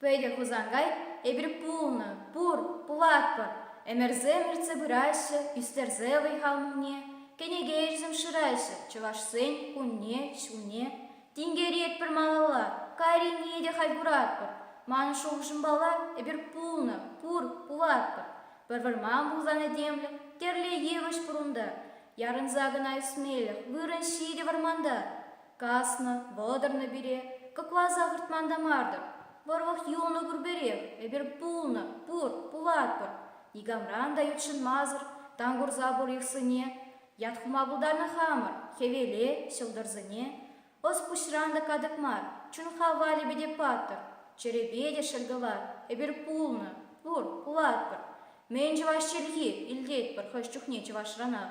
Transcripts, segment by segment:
Пӗтӗ Хусанкай эпир пулнӑ, пур, пулатпӑр. Ӗмӗрсем иртсе пыраҫҫӗ, ӳстерсе вӑй-хал мулне, кӗнеке-ирсем шыраҫҫӗ, чӑвашсен кунне, ҫулне, Тинкеретпӗр малалла, кайренне те хай куратпӑр. Манӑн шухӑшӑмпала, эпир пулнӑ, пур, пулатпӑр. Пӗр вӑрман пулсан этемлӗх, тӗрлӗ йывӑҫ пур унта. Ярӑнса кӑна ӳсмелӗх вырӑн ҫитӗ вӑрманта. Каснӑ, вӑтӑрнӑ пире, кӑкласа выртман та мар-тӑр. Вӑрлӑх юлнӑ пурпӗрех, эпир пулнӑ, пур, пулатпӑр. Никамран та ютшӑнмасӑр тан курса пур йӑхсене. Ят хума пултарнӑ хамӑр, хӗвеле, ҫӑлтӑрсене. Ӑс пуҫран та катӑк мар, чун-хав валӗпе те паттӑр. Чӗрепе те шӗлкӑлар, эпир пулнӑ, пур, пулатпӑр. Мӗн чӑваш чӗлхи, илтетпӗр хӑш чухне чӑвашранах.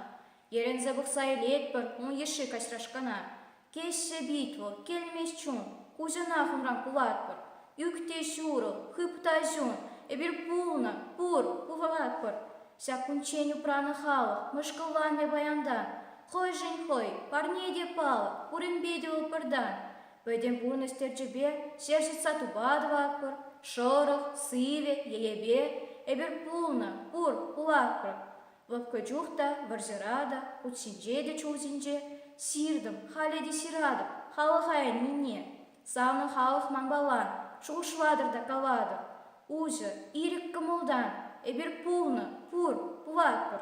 Йӗрӗнсе пӑхса илетпӗр ун йышши каҫрашкана. Теҫҫӗ Витюк, килмест чун. Куҫӑнах унран кулатпӑр. Ӳк те ҫурӑл, хып та ҫун, эпир пулнӑ, пур, курӑлатпӑр. Ҫак кунччен упранӑ халӑх мӑшкӑлланнӑ паянтан. Хӑйшӗн хӑй, парне те палӑк, пурӗнпе те вӑл пӗртан. Пӗтӗм пурнӑҫ терчӗпе ҫер ҫӑтса тупа тӑватпӑр, шӑрӑх, сивӗ, йӗйепе. Эпир пулнӑ, пур, кулатпӑр. Лӑпкӑ чух та, вӑрҫӑра та, ут ҫинче те чул ҫинче ҫыртӑм, халӗ те ҫыратӑп халӑха ӗннине. Санӑн халӑх манпалан, шухӑшлатӑр та калатӑр, уҫӑр, ирӗк кӑмӑлтан, эпир пулнӑ, пур, пулатпӑр.